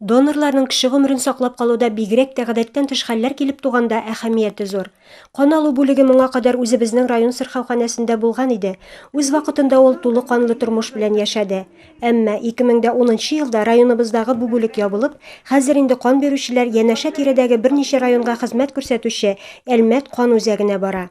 Донорларның кеше гомерен саклап калуда бигрәк тә гадәттән тыш хәлләр килеп туганда әһәмияте зур. Кан алу бүлеге моңа кадәр үзебезнең район сырхауханәсендә булган иде. Үз вакытында ул тулы канлы тормыш белән яшәде. Әмма, 2010 нчы елда районыбыздагы бу бүлек ябылып, хәзер инде кан бирүчеләр янәшә-тирәдәге берничә районга хезмәт күрсәтүче Әлмәт кан үзәгенә бара.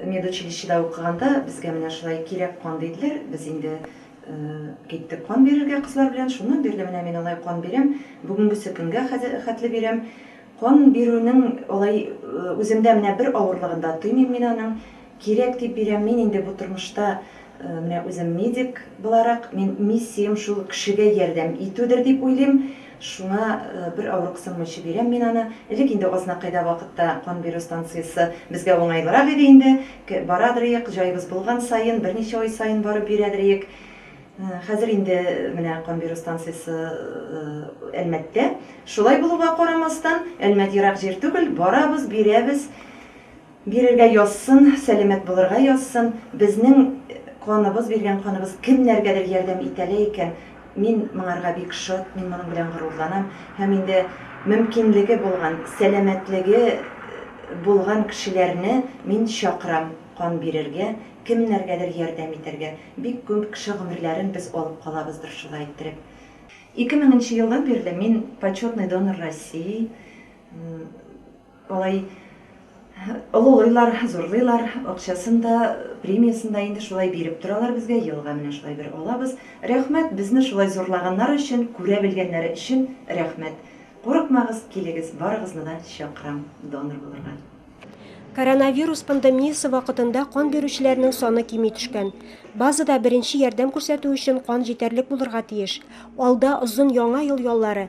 Медучилищеда укыганда безгә менә шулай кирәк кан диделәр, без инде киттек кан бирергә кызлар белән, шуннан бирле менә мин алай кан бирәм, бүгенгесе көнгә хәтле бирәм. Кан бирүнең алай үземдә менә бер авырлыгын да тоймыйм мин аның, кирәк дип бирәм, мин инде бу тормышта менә үзем медик буларак, мин миссиям шул кешегә ярдәм итүдер дип уйлыйм, Шуны бер авырыксынмыйча бирәм мин аны. Элек инде Азнакайда вакытта кан бирү станциясе безгә уңайлырак иде инде. Барадыр иек, җаебыз булган саен, берничә ай саен барып бирәдер иек. Хәзер инде менә кан бирү станциясе Әлмәттә. Шулай булуга карамастан, Әлмәт ерак җир түгел, барабыз, бирәбез. Бирергә язсын, сәламәт булырга язсын. Безнең каныбыз, биргән каныбыз кемнәргәдер ярдәм итә лә икән, мин моңарга бик шат, мин моның белән горурланам. Һәм инде мөмкинлеге булган, сәламәтлеге булган кешеләрне мин чакырам кан бирергә, кемнәргәдер ярдәм итәргә. Бик күп кеше гомерләрен без алып калабыздыр шулай иттереп. Ике меңенче елдан бирле мин Почетный донор России. Алай олылыйлар, зурлыйлар, акчасын да, премиясен дә инде шулай биреп торалар безгә, елга менә шулай бер алабыз. Рәхмәт, безне шулай зурлаганнар өчен, күрә белгәннәре өчен рәхмәт. Курыкмагыз, килегез, барыгызны да чакырам донор булырга. Коронавирус пандемиясе вакытында кан бирүчеләрнең саны кими төшкән. Базада беренче ярдәм күрсәтү өчен кан җитәрлек булырга тиеш. Алда озын Яңа ел яллары.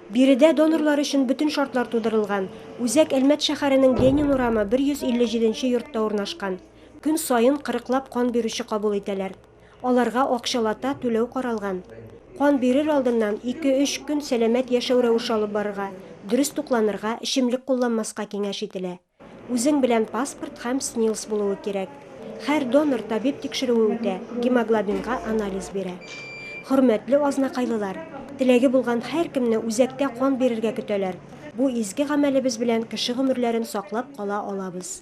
Биредә донорлар өчен бөтен шартлар тудырылган. Үзәк Әлмәт шәһәренең Ленин урамы 157 нче йортта урнашкан. Көн саен кырыклап кан бирүче кабул итәләр. Аларга акчалата түләү каралган. Кан бирер алдыннан ике-өч көн сәламәт яшәү рәвеше алып барырга, дөрес тукланырга, эчемлек кулланмаска киңәш ителә. Үзең белән паспорт һәм СНИЛС булуы кирәк. Һәр донор табиб тикшерүе үтә, гемоглобинга анализ бирә. Хөрмәтле азнакайлылар, теләге булган һәркемне үзәктә кан бирергә көтәләр. Бу изге гамәлебез белән кеше гомерләрен саклап кала алабыз.